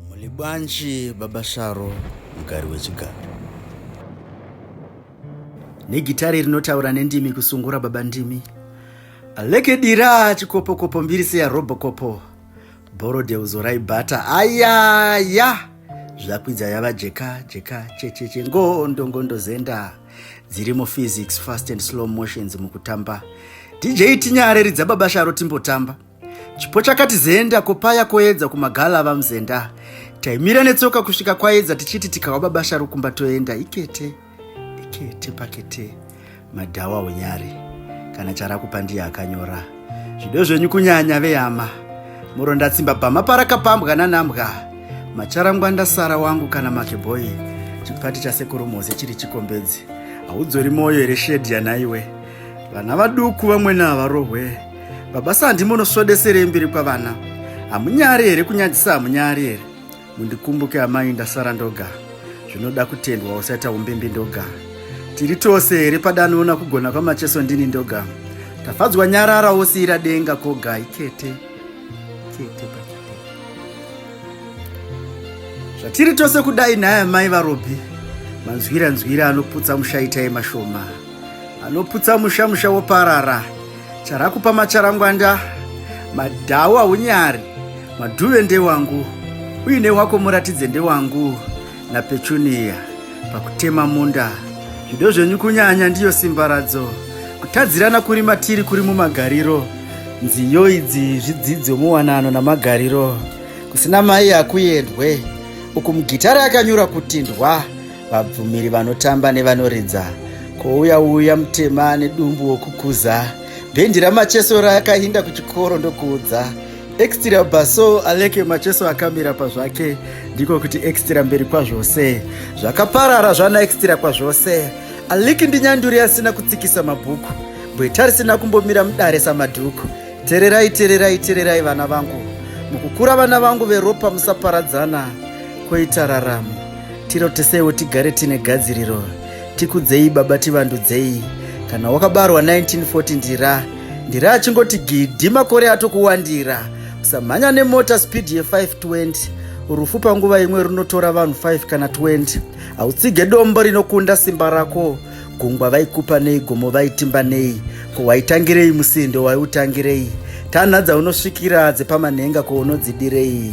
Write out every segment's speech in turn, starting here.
Mulibwanji baba Sharo mugari wechigaro. Negitare rinotaura nendimi kusungura baba ndimi. Aleke dira chikopo kopo mbiri seya robo kopo. Boro deuzo raibata ayaya. Zvakwidza yava jeka jeka checheche ngondo ngondo zenda. dziri muphysics fast and slow motions mukutamba dj tinyare ridza baba sharo timbotamba chipo chakati zenda kopaya koedza kumagala vamzenda taimira netsoka kusvika kwaedza tichiti tikawa baba sharo kumba toenda ikete ikete pakete madhawa unyare kana charakupandiya akanyora zvido zvenyu kunyanya vehama muronda tsimba bhama parakapambwa nanambwa macharangwa ndasara wangu kana makebhoyi chipati chasekuru moze chiri chikombedzi haudzori mwoyo here shedhi yanaiwe vana vaduku vamwene havarohwe baba sandi munosvodeserei mbiri kwavana hamunyari here kunyadzisa hamunyari here mundikumbuke amai ndasara ndoga zvinoda kutendwa usaita umbimbi ndoga tiri tose here padanoona kugona kwamacheso ndini ndoga tafadzwa nyarara wosiira denga koga ikete kete pakete zvatiri tose kudai nhaya mai varobi manzwira nzwira anoputsa musha itai mashoma anoputsa musha musha woparara charakupa macharangwanda madhawu haunyari madhuve ndewangu uine wako muratidze ndewangu napechuniya pakutema munda zvido zvenyu kunyanya ndiyo simba radzo kutadzirana kuri matiri kuri mumagariro nziyo idzi zvidzidzo muwanano namagariro kusina mai hakuendwe uku mugitare akanyura kutindwa vabvumiri vanotamba nevanoridza kouya uya mutema nedumbu wokukuza bhendi ramacheso rakainda kuchikoro ndokuudza extra baso aleke macheso akamira pazvake ndiko kuti extra mberi kwazvose zvakaparara zvana extra kwazvose aliki ndinyanduri asina kutsikisa mabhuku bweta risina kumbomira mudare samadhuku tererai tererai tererai vana vangu mukukura vana vangu veropa musaparadzana koita raramo Tirotesewo tigare tine gadziriro. Tikudzei baba tivandudzei. Kana wakabarwa 1940 ndira. Ndira achingoti gidhi makore atokuwandira. Usamhanya nemota speed ye 520. Rufu panguva imwe runotora vanhu 5 kana 20. Hautsige dombo rinokunda simba rako. Gungwa vaikupa nei gomo vaitimba nei. Ko waitangirei musindo waiutangirei. Tanha dzaunosvikira dzepamanhenga ko unodzidirei.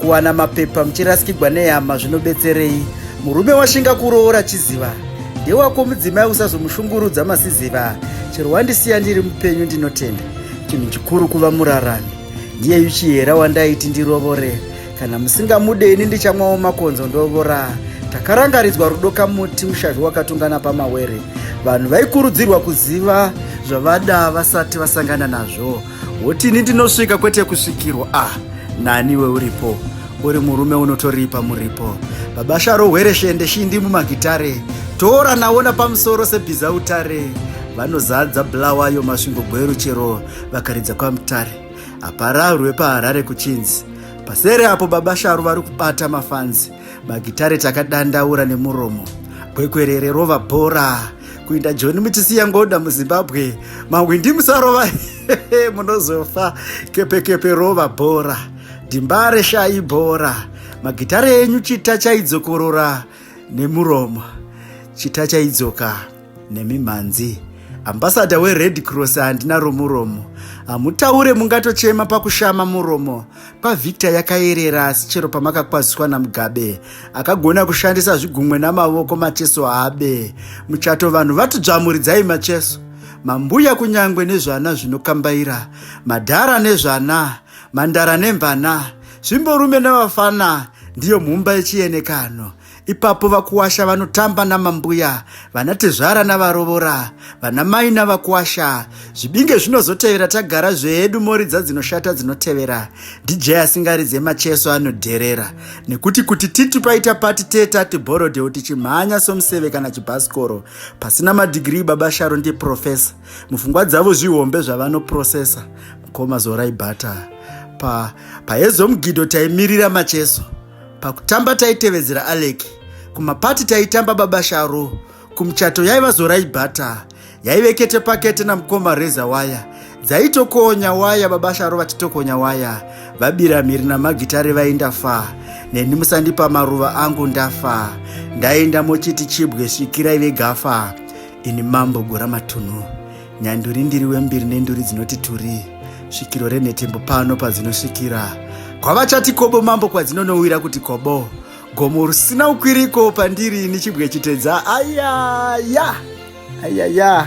kuwana mapepa muchirasikigwa nehama zvinobetserei murume washinga kuroora chiziva ndewako mudzimai usazomushungurudza masiziva chero wandisiya ndiri mupenyu ndinotenda chinhu chikuru kuva murarami ndiye yuchihera wandaiti ndirovore kana musingamude ini ndichamwawo makonzo ndovora takarangaridzwa rudo kamuti mushavhi wakatungana pamawere vanhu vaikurudzirwa kuziva zvavada vasati vasangana nazvo wotini ndinosvika kwete kusvikirwa ah naniwe uripo uri murume unotoripa muripo baba sharo hwere shende shindi mumagitare tora naona pamusoro sebhiza utare vanozadza bulawayo masvingo gweru chero vakaridza kwamutare hapara rwepaharare kuchinzi pasere apo baba sharu vari kubata mafanzi magitare takadandaura nemuromo kwekwerere rova bhora kuinda joni muchisiya ngoda muzimbabwe mahwindi musarova munozofa kepekepe rova bhora dimbare shayi bhora magitare enyu chita chaidzokorora nemuromo chita chaidzoka nemimhanzi ambasada wered cross handina romuromo hamutaure mungatochema pakushama muromo pavictor yakayerera asi chero pamakakwaziswa namugabe akagona kushandisa zvigumwe namavoko macheso abe muchato vanhu vatidzvamuridzai macheso mambuya kunyangwe nezvana zvinokambaira madhara nezvana mandara nemvana zvimborume nevafana ndiyo mumba yechienekano Ipapo vakuwasha vanotamba namambuya, vanatezvara navarovora, vanamai navakuwasha. Zvibinge zvinozotevera tagara zvedu moridza dzinoshata dzinotevera. DJ asingaridze macheso anodherera. Nekuti kuti titi paita pati te tati borodeo tichimhanya somuseve kana chibhasikoro. Pasina madhigirii baba Sharo ndiprofesa. Mufungwa dzavo zvihombe zvavanoprosesa. Mukoma Zorai Bata. Pa, paezo mugido taimirira macheso. Pakutamba taitevedzera Alec, kumapati taitamba baba Sharo, kumuchato yaiva zorai bhata, yaive kete pakete namukoma reza waya dzaitokonya waya baba sharo vachitokonya waya vabira mhiri namagitare vaindafa neni musandipa maruva angu ndafa ndaenda mochiti chibwe svikirai vegafa ini mambo gora matunhu nyanduri ndiri wembiri nenduri dzinoti turi svikiro renhetembo pano padzinosvikira kwavachati kobo mambo kwadzinonowira kuti kobo gomo rusina ukwiriko pandiri nichibwe chitedza ayaya ayaya